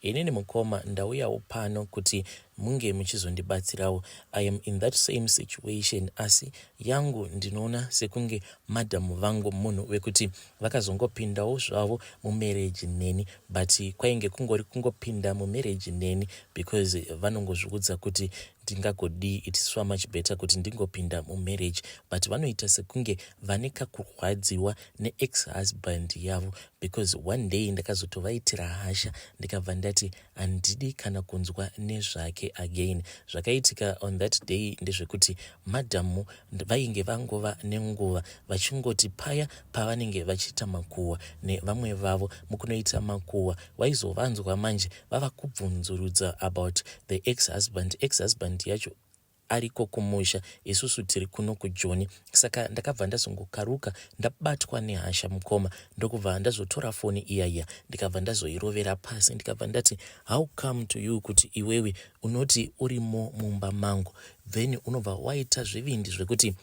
Inini mukoma ndauyawo pano kuti munge muchizondibatsirawo. I am in that same situation asi yangu ndinoona sekunge madam vangu munhu wekuti vakazongopindawo zvavo mumarriage neni but kwainge kungori kungopinda mumarriage neni because vanongozviudza kuti ndingagodii its swa much better kuti ndingopinda mumarriage but vanoita sekunge vane kakurwadziwa neex husband yavo because one day ndakazotovaitira hasha ndikabva ndati handidi kana kunzwa nezvake again zvakaitika on that day ndezvekuti madhamu vainge vangova nenguva vachingoti paya pavanenge vachiita makuhwa nevamwe vavo mukunoita makuhwa waizovanzwa manje vava kubvunzurudza about the ex husband ex husband yacho ariko kumusha isusu tiri kuno kujoni saka ndakabva ndazongokaruka ndabatwa nehasha mukoma ndokubva ndazotora foni iya iya ndikabva ndazoirovera pasi ndikabva ndati how come to you kuti iwewe unoti urimo mumba mangu then unobva waita zvivindi zvekuti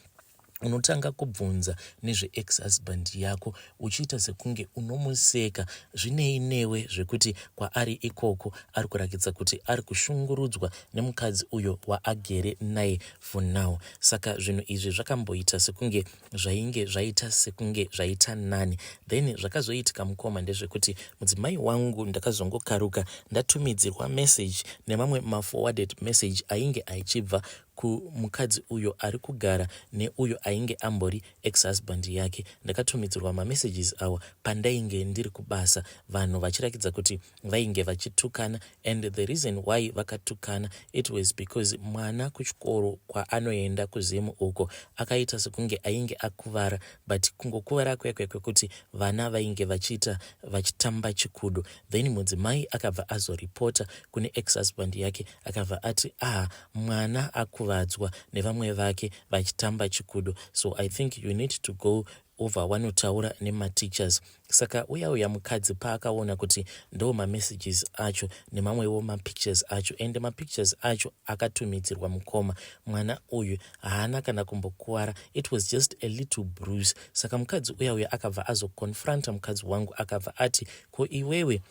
unotanga kubvunza nezveex husband yako uchiita sekunge unomuseka zvinei newe zvekuti kwaari ikoko ari kurakidza kuti ari kushungurudzwa nemukadzi uyo waagere naye for now saka zvinhu izvi zvakamboita sekunge zvainge zvaita sekunge zvaita nani then zvakazoitika mukoma ndezvekuti mudzimai wangu ndakazongokaruka ndatumidzirwa message nemamwe maforwarded message ainge aichibva ku mukadzi uyo ari kugara ne uyo ainge ambori ex husband yake ndakatumidzirwa ma messages awa pandainge ndiri kubasa vanhu vachirakidza kuti vainge vachitukana and the reason why vakatukana it was because mwana kuchikoro kwaanoenda ku Zim uko akaita sekunge ainge akuvara but kungokuvara kwekwe kwekuti vana vainge vachiita vachitamba chikudo then mudzimai akabva azo reporter kune ex husband yake akabva ati ah mwana akuvadzwa nevamwe vake vachitamba chikudo so i think you need to go over wanotaura nemateachers saka uya uya mukadzi paakaona kuti ndo mamessages acho nemamwewo mapictures acho ende mapictures acho akatumidzirwa mukoma mwana uyu haana kana kumbokuvara it was just a little bruise saka mukadzi uya uya akabva azoconfronta mukadzi wangu akabva ati ko iwewe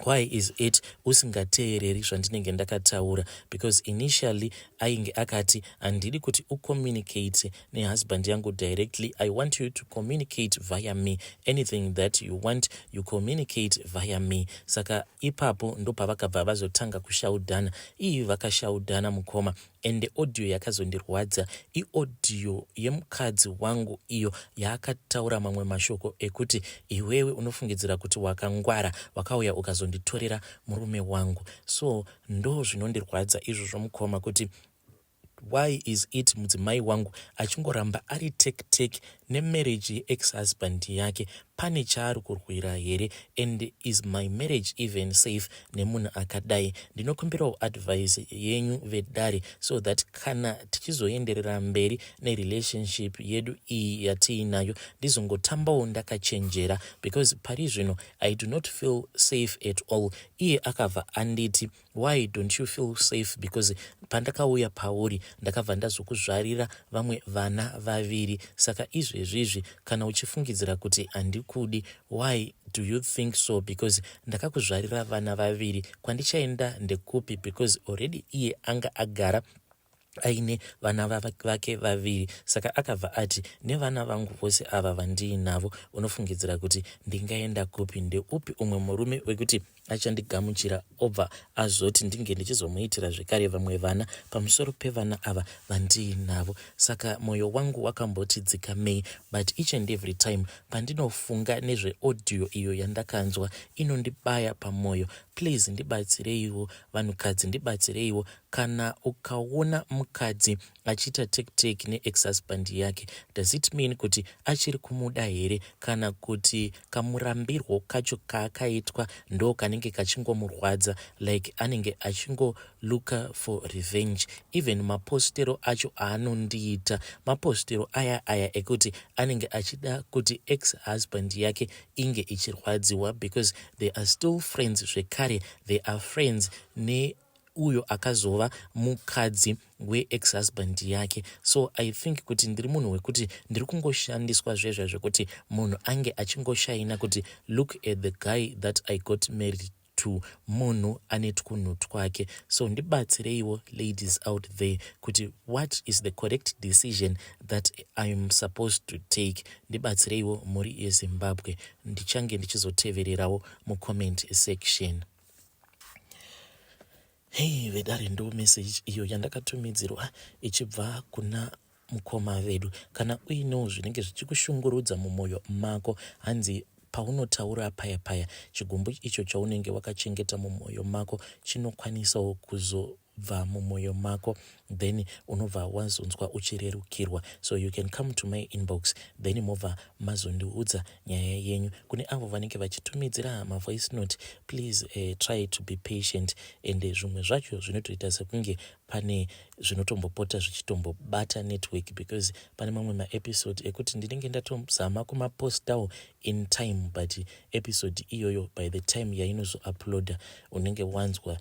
Why is it usingateereri zvandinenge ndakataura because initially ainge akati handidi kuti ucommunicate nehusband yangu directly i want you to communicate via me anything that you want you communicate via me saka ipapo ndopavakabva vazotanga kushaudhana ii vakashaudhana mukoma ende audio yakazondirwadza iaudio yemukadzi wangu iyo yaakataura mamwe mashoko ekuti iwewe unofungidzira kuti wakangwara wakauya ukazonditorera murume wangu so ndo zvinondirwadza izvozvo mukoma kuti why is it mudzimai wangu achingoramba ari tektek nemarriage ye ex husband yake pane chaari kurwira here and is my marriage even safe nemunhu akadai ndinokumbirawo advice yenyu vedare so that kana tichizoenderera mberi nerelationship yedu iyi yatiinayo ndizongotambawo ndakachenjera because pari zvino i do not feel safe at all iye akabva anditi Why don't you feel safe because pandakauya pauri ndakabva ndazokuzvarira vamwe vana vaviri saka izvezvi izvi kana uchifungidzira kuti handikudi why do you think so because ndakakuzvarira vana vaviri kwandichaenda ndekupi because already iye anga agara aine vana vake vaviri saka akabva ati nevana vangu vose ava vandiinavo unofungidzira kuti ndingaenda kupi ndeupi umwe murume wekuti achandigamuchira obva azoti ndinge ndichizomuitira zvekare vamwe vana pamusoro pevana ava vandiinavo saka mwoyo wangu wakamboti dzikamei but each and every time pandinofunga nezveaudio iyo yandakanzwa inondibaya pamwoyo please ndibatsireiwo vanhukadzi ndibatsireiwo Kana ukaona mukadzi achiita take take ne ex husband yake does it mean kuti achiri kumuda here kana kuti kamurambirwo kacho kaakaitwa ndo kanenge kachingomurwadza like anenge achingo looker for revenge even mapostero acho aanondiita mapostero aya aya ekuti anenge achida kuti ex husband yake inge ichirwadziwa because they are still friends zvekare they are friends ne uyo akazova mukadzi weex husband yake so i think kuti ndiri munhu wekuti ndiri kungoshandiswa zvezva zvekuti munhu ange achingoshaina kuti look at the guy that i got married to munhu ane twunhu twake so ndibatsireiwo ladies out there kuti what is the correct decision that iam supposed to take ndibatsireiwo mhuri yezimbabwe ndichange ndichizotevererawo mucomment section Hei vedare ndo meseji iyo yandakatumidzirwa ichibva kuna mukoma vedu. Kana uinewo zvinenge zvichikushungurudza mumwoyo mako, hanzi paunotaura paya paya chigumbu icho chaunenge wakachengeta mumwoyo mako chinokwanisawo kuzo bva mumoyo mako then unobva wazonzwa uchirerukirwa so you can come to my inbox then mobva mazondiudza nyaya yenyu kune avo vanenge vachitumidzira mavoice note please uh, try to be patient and eh, zvimwe zvacho zvinotoita sekunge pane zvinotombopota zvichitombobata network because pane mamwe maepisode ekuti ndinenge ndatozama kumapostawo in time but episode iyoyo by the time yainozouploada unenge wanzwa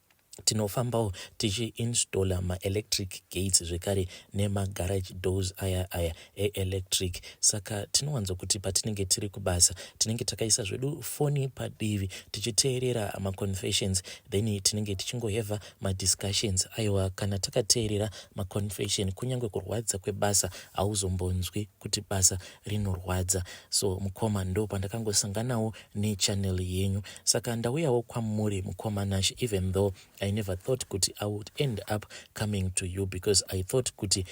tinofambawo tichiinstaller maelectric gates zvekare nemagarage doors aya aya eelectric saka tinowanzo kuti patinenge tiri kubasa tinenge takaisa zvedu foni padivi tichiteerera maconfessions then tinenge tichingoheva madiscussions aiwa kana takateerera maconfession kunyange kurwadza kwebasa hauzombonzwi kuti basa rinorwadza so mukoma ndo pandakangosanganawo nechannel yenyu saka ndauyawo kwamuri mukoma Nash even though I never thought kuti I would end up coming to you because I thought kuti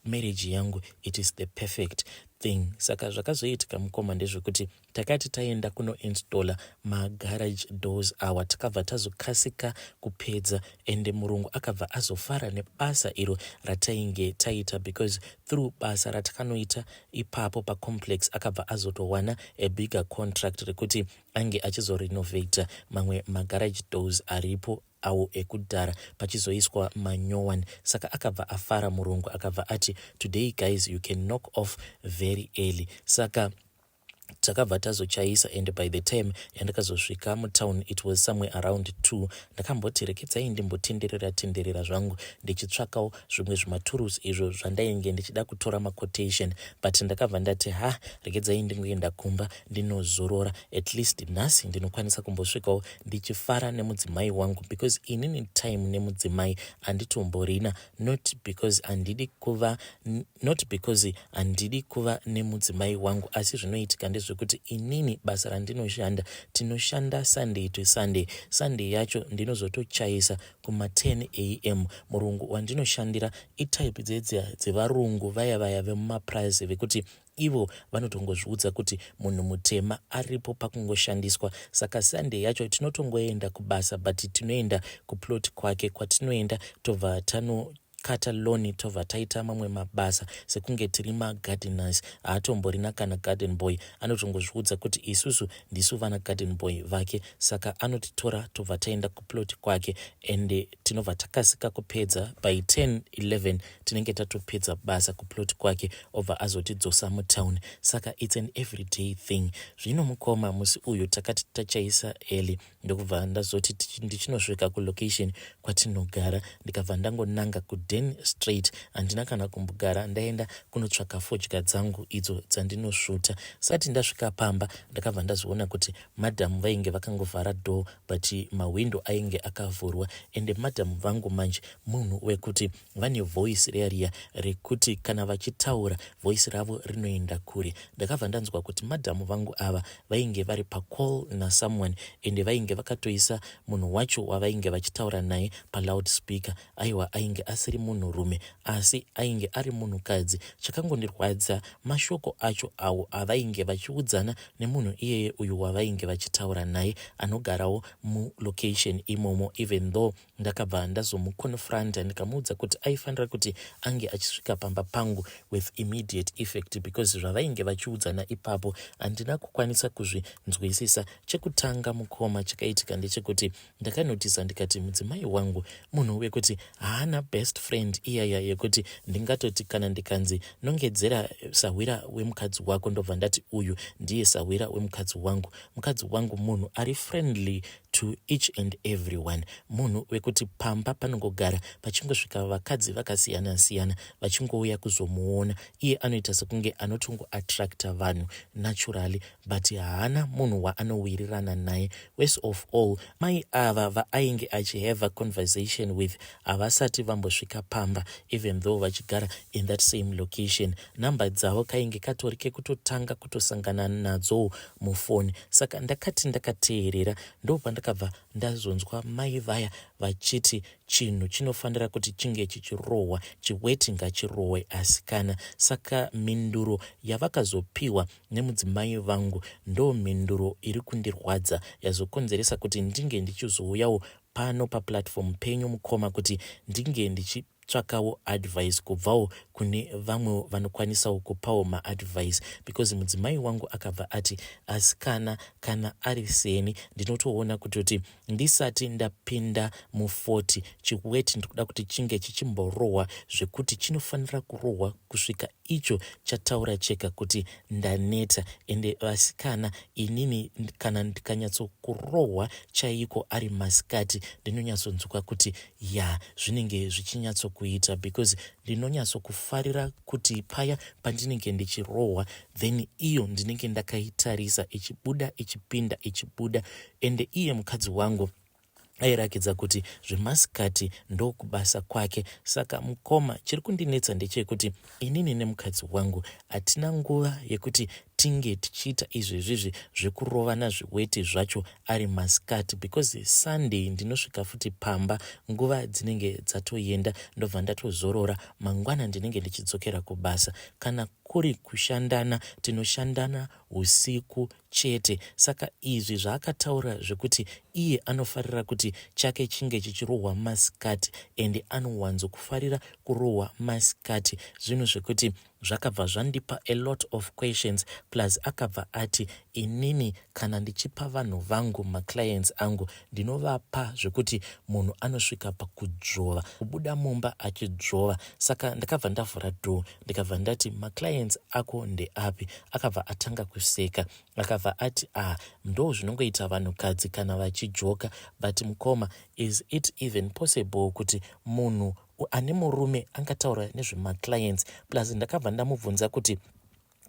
marriage yangu it is the perfect thing saka zvakazoitika mukoma ndezvekuti takati taenda kunoinstalla magarage doors awa takabva tazokasika kupedza ende murungu akabva azofara nebasa iro ratainge taita because through basa ratakanoita ipapo pacomplex akabva azotowana a bigger contract rekuti ange achizorenovator mamwe magarage doors aripo awo ekudhara pachizoiswa manyowan saka akabva afara murungu akabva ati today guys you can knock off very early saka takabva tazochaisa and by the time yandakazosvika mutown it was somewhere around two ndakamboti rekedzai ndimbotenderera tenderera zvangu ndichitsvakawo zvimwe zvimaturusi izvo zvandainge ndichida kutora maquotation but ndakabva ndati ha rekedzai ndingoenda kumba ndinozorora at least nhasi ndinokwanisa kumbosvikawo ndichifara nemudzimai wangu because inini time nemudzimai anditomborina not because andidi kuva not because handidi kuva nemudzimai wangu asi zvinoitika ndezvekuti inini basa randinoshanda tinoshanda sunday to sunday sunday yacho ndinozotochaisa kuma 10 am murungu wandinoshandira itype dzedzia dzevarungu vaya vaya vemumaprize vekuti ivo vanotongozviudza kuti munhu mutema aripo pakungoshandiswa saka sunday yacho tinotongoenda kubasa but tinoenda kuplot kwake kwatinoenda tobva tano Cutter Lonnie tobva taita mamwe mabasa sekunge tiri magardeners. Haatomborina kana garden boy, anotongozviudza kuti isusu ndisu vana garden boy vake saka anotitora tobva taenda kuplot kwake and tinobva takasika kupedza by 10 11 tinenge tatopedza basa kuplot kwake obva azotidzosa mutown saka it's an everyday thing. Zvino mukoma musi uyu takati tachaisa early ndokubva ndazoti ndichinosvika kulocation kwatinogara ndikabva ndangonanga kuden straight handina kana kumbogara ndaenda kunotsvaka fodya dzangu idzo dzandinosvuta sati ndasvika pamba ndakabva ndazoona kuti madhamu vainge vakangovhara door but mahwindo ainge akavhurwa ende madhamu vangu manje munhu wekuti vane voice riya riya rekuti kana vachitaura voice ravo rinoenda kure ndakabva ndanzwa kuti madhamu vangu ava vainge vari pacall nasomeone ende vainge vakatoisa munhu wacho wavainge vachitaura naye paloud speaker aiwa ainge asiri munhurume asi ainge ari munhukadzi chakangondirwadza mashoko acho awo avainge vachiudzana nemunhu iyeye uyu wavainge vachitaura naye anogarawo mulocation imomo even though Ndakabva ndazomuconfronter ndikamuudza kuti aifanira kuti ange achisvika pamba pangu with immediate effect because zvavainge vachiudzana ipapo handina kukwanisa kuzvinzwisisa. Chekutanga mukoma chakaitika ndechekuti ndakanotisa ndikati mudzimai wangu munhu wekuti haana best friend iyaya yekuti ndingatoti kana ndikanzi nongedzera sahwira wemukadzi wako ndobva ndati uyu ndiye sahwira wemukadzi wangu. Mukadzi wangu munhu ari friendly to each and everyone munhu wekuti pamba panongogara pachingosvika vakadzi vakasiyana siyana vachingouya kuzomuona iye anoita sekunge anotongo attracta vanhu naturally but haana munhu waanowirirana naye worse of all mai ava vaainge achihave conversation with havasati vambosvika pamba even though vachigara in that same location number dzavo kainge katori kekutotanga kutosangana nadzo mufoni saka ndakati ndakateerera ndopandakabva ndazonzwa mai vaya vachiti chinhu chinofanira kuti chinge chichirohwa chiweti ngachirohwe asikana saka mhinduro yavakazopiwa nemudzimai vangu ndo mhinduro iri kundirwadza yazokonzeresa kuti ndinge ndichizouyawo pano paplatform penyu mukoma kuti ndinge ndichi tsvakawo advice kubvawo kune vamwewo vanokwanisawo kupawo maadvice because mudzimai wangu akabva ati asikana kana ari seni ndinotoona kutoti ndisati ndapinda mu40 chiweti ndikuda kuti chinge chichimborohwa zvekuti chinofanira kurohwa kusvika icho chataura chega kuti ndaneta ende vasikana inini kana ndikanyatsokurohwa chaiko ari masikati ndinonyatsonzwa kuti ya zvinenge zvichinyatsokuita because ndinonyatsokufarira kuti paya pandinenge ndichirohwa then iyo ndinenge ndakaitarisa ichibuda ichipinda ichibuda ende iye mukadzi wangu airakidza kuti zvemasikati ndokubasa kwake saka mukoma chiri kundinetsa ndechekuti inini nemukadzi wangu hatina nguva yekuti tinge tichiita izvezvizvi zvekurovana zviweti zvacho ari masikati because sunday ndinosvika futi pamba nguva dzinenge dzatoenda ndobva ndatozorora mangwana ndinenge ndichidzokera kubasa kana kuri kushandana tinoshandana husiku chete saka izvi zvaakataura zvekuti iye anofarira kuti chake chinge chichirohwa masikati and anowanzo kufarira kurohwa masikati zvinhu zvekuti zvakabva zvandipa a lot of questions plus akabva ati inini kana ndichipa vanhu vangu maclients angu ndinovapa zvekuti munhu anosvika pakudzvova kubuda mumba achidzvova saka ndakabva ndavhura door ndikabva ndati maclients ako ndeapi akabva atanga kuseka akabva ati ah ndo zvinongoita vanhukadzi kana vachijoka but mukoma is it even possible kuti munhu ane murume angataura nezvemaclients plus ndakabva ndamubvunza kuti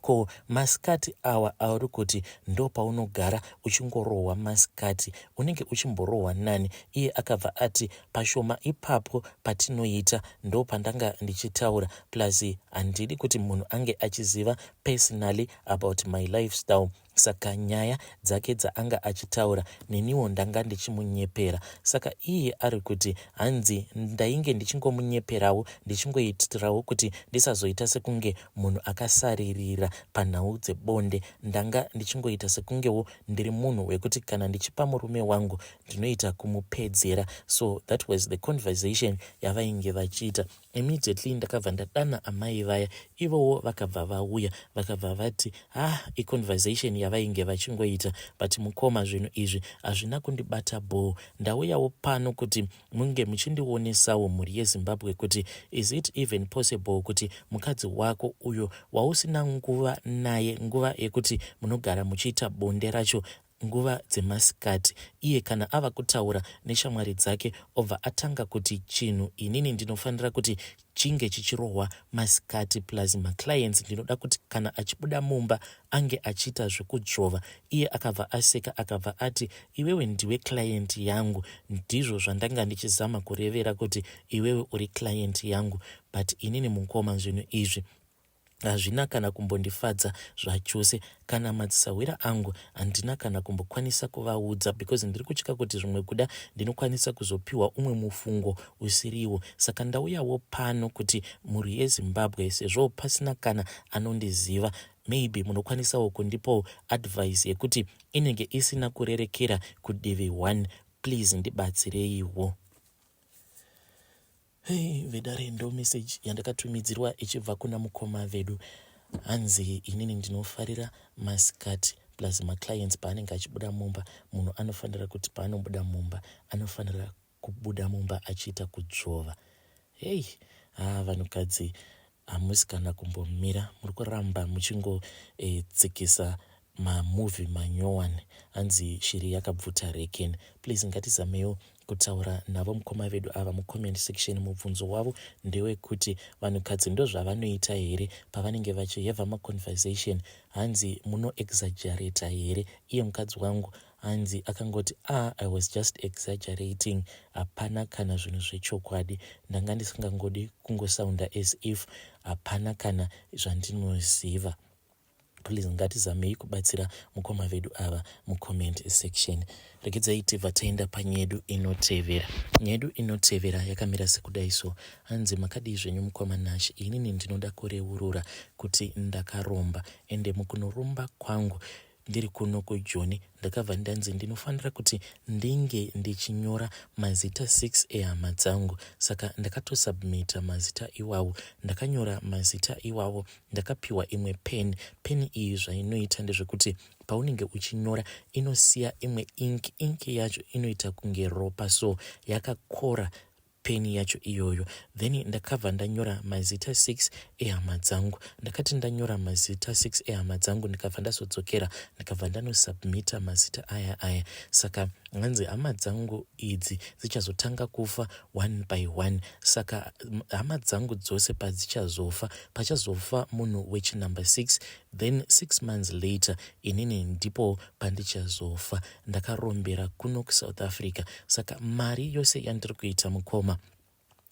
ko masikati awa auri kuti ndo paunogara uchingorohwa masikati unenge uchimborohwa nani iye akabva ati pashoma ipapo patinoita ndopandanga ndichitaura plus handidi kuti munhu ange achiziva personally about my lifestyle saka nyaya dzake dzaanga achitaura neniwo ndanga ndichimunyepera saka iye ari kuti hanzi ndainge ndichingomunyeperawo ndichingoitirawo kuti ndisazoita sekunge munhu akasaririra panhau dzebonde ndanga ndichingoita sekungewo ndiri munhu wekuti kana ndichipa murume wangu ndinoita kumupedzera so that was the conversation yavainge vachiita immediately ndakabva ndadana amai vaya ivowo vakabva vauya vakabva vati ah iconversation yavainge vachingoita but mukoma zvinhu izvi hazvina kundibata bhoo ndauyawo pano kuti munge muchindionesawo mhuri yezimbabwe kuti is it even possible kuti mukadzi wako uyo wausina nguva naye nguva yekuti munogara muchiita bonde racho Nguva dzemasikati iye kana ava kutaura neshamwari dzake obva atanga kuti chinhu inini ndinofanira kuti chinge chichirohwa masikati plus maclients ndinoda kuti kana achibuda mumba ange achiita zvekudzvova. Iye akabva aseka akabva ati iwewe ndiwe client yangu ndizvo zvandanga ndichizama kurevera kuti iwewe uri client yangu but inini mukoma zvinhu izvi hazvina kana kumbondifadza zvachose kana madzisahwira angu handina kana kumbokwanisa kuvaudza because ndiri kutya kuti zvimwe kuda ndinokwanisa kuzopiwa umwe mufungo usiriwo saka ndauyawo pano kuti mhuri yezimbabwe sezvo pasina kana anondiziva maybe munokwanisawo kundipawo advice yekuti inenge isina kurerekera kudivi one please ndibatsireiwo Hey, vedare ndo message yandakatumidzirwa ichibva kuna mukoma vedu hanzi inini ndinofarira masikati plus maclients paanenge achibuda mumba munhu anofanira kuti paanobuda mumba anofanira kubuda mumba achiita kudzvova heyi haa vanhukadzi Hamusi kana kumbomira muri kuramba muchingotsikisa eh, mamovie manyowani hanzi shiri yakabvuta reken please ngatizamewo kutaura navo mukoma vedu ava mucomment section mubvunzo wavo ndewekuti vanhukadzi ndozvavanoita here pavanenge vachiheva maconversation hanzi munoexagerata here iye mukadzi wangu hanzi akangoti ah i was just exaggerating hapana kana zvinhu zvechokwadi ndanga ndisingangodi kungosounda as if hapana kana zvandinoziva please ngatizamei kubatsira mukoma vedu ava mucomment section regedzai tibva taenda panyedu inotevera nyedu inotevera yakamira sekudai so hanzi makadii zvenyu mukoma nash inini ndinoda kureurura kuti ndakaromba ende mukunoromba kwangu Ndiri kuno kujoni ndakabva ndanzi ndinofanira kuti ndinge ndichinyora mazita 6 ehama dzangu saka ndakatosubmita mazita iwawo. Ndakanyora mazita iwawo ndakapiwa imwe pen. Pen iyi zvainoita ndezvekuti paunenge uchinyora inosiya imwe ink. Ink yacho inoita kunge ropa so yakakora peni yacho iyoyo then ndakabva ndanyora mazita 6 ehama dzangu ndakati ndanyora mazita 6 ehama dzangu ndikabva ndazodzokera ndikabva ndanosubmita mazita aya aya saka hanzi hama dzangu idzi dzichazotanga kufa one by one saka hama dzangu dzose padzichazofa pachazofa munhu wechinumber 6 then 6 months later inini ndipo pandichazofa ndakarombera kuno kusouth africa saka mari yose yandiri kuita mukoma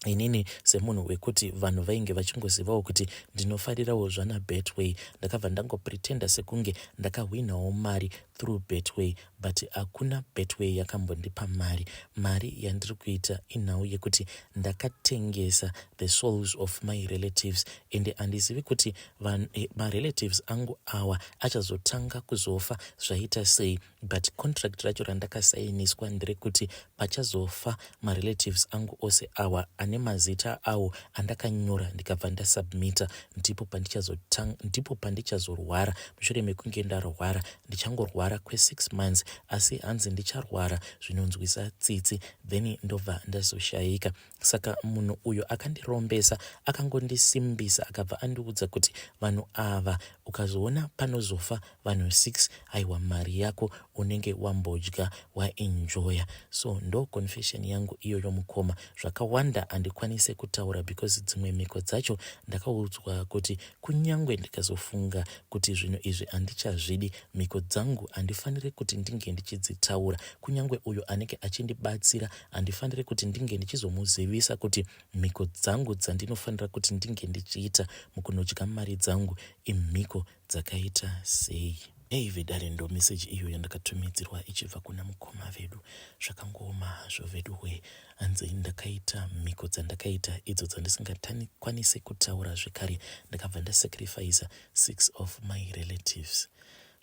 inini semunhu wekuti vanhu vainge vachingozivawo kuti ndinofarirawo zvana betway ndakabva ndangopretenda sekunge ndakahwinawo mari through betway but hakuna betway yakambondipa mari mari yandiri kuita inhau yekuti ndakatengesa the souls of my relatives ende handizivi kuti Van, eh, marelatives angu awa achazotanga kuzofa zvaita sei but contract racho randakasainiswa nderekuti pachazofa marelatives angu ose awa ane mazita awo andakanyora ndikabva ndasubmita ndipo pandichazotanga ndipo pandichazorwara mushure mekunge ndarwara ndichangorwara kwesix months asi hanzi ndicharwara zvinonzwisa tsitsi then ndobva ndazoshayika saka munhu uyo akandirombesa akangondisimbisa akabva andiudza kuti vanhu ava ukazoona panozofa vanhu 6 aiwa mari yako unenge wambodya waenjoya so ndo confession yangu iyoyo mukoma zvakawanda handikwanise kutaura because dzimwe mhiko dzacho ndakaudzwa kuti kunyange ndikazofunga kuti zvinhu izvi handichazvidi mhiko dzangu handifanire kuti ndinge ndichidzitaura kunyange uyo anenge achindibatsira handifanire kuti ndinge ndichizomuzivisa kuti mhiko dzangu dzandinofanira kuti ndinge ndichiita mukunodya mari dzangu imhiko dzakaita sei hey vedare ndo meseji iyo yandakatumidzirwa ichibva kuna mukoma vedu zvakangooma hazvo vedu hwee hanzi ndakaita mhiko dzandakaita idzo dzandisingakwanise kutaura zvekare ndakabva ndasacrifice six of my relatives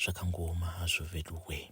zvakangooma hazvo vedu hwee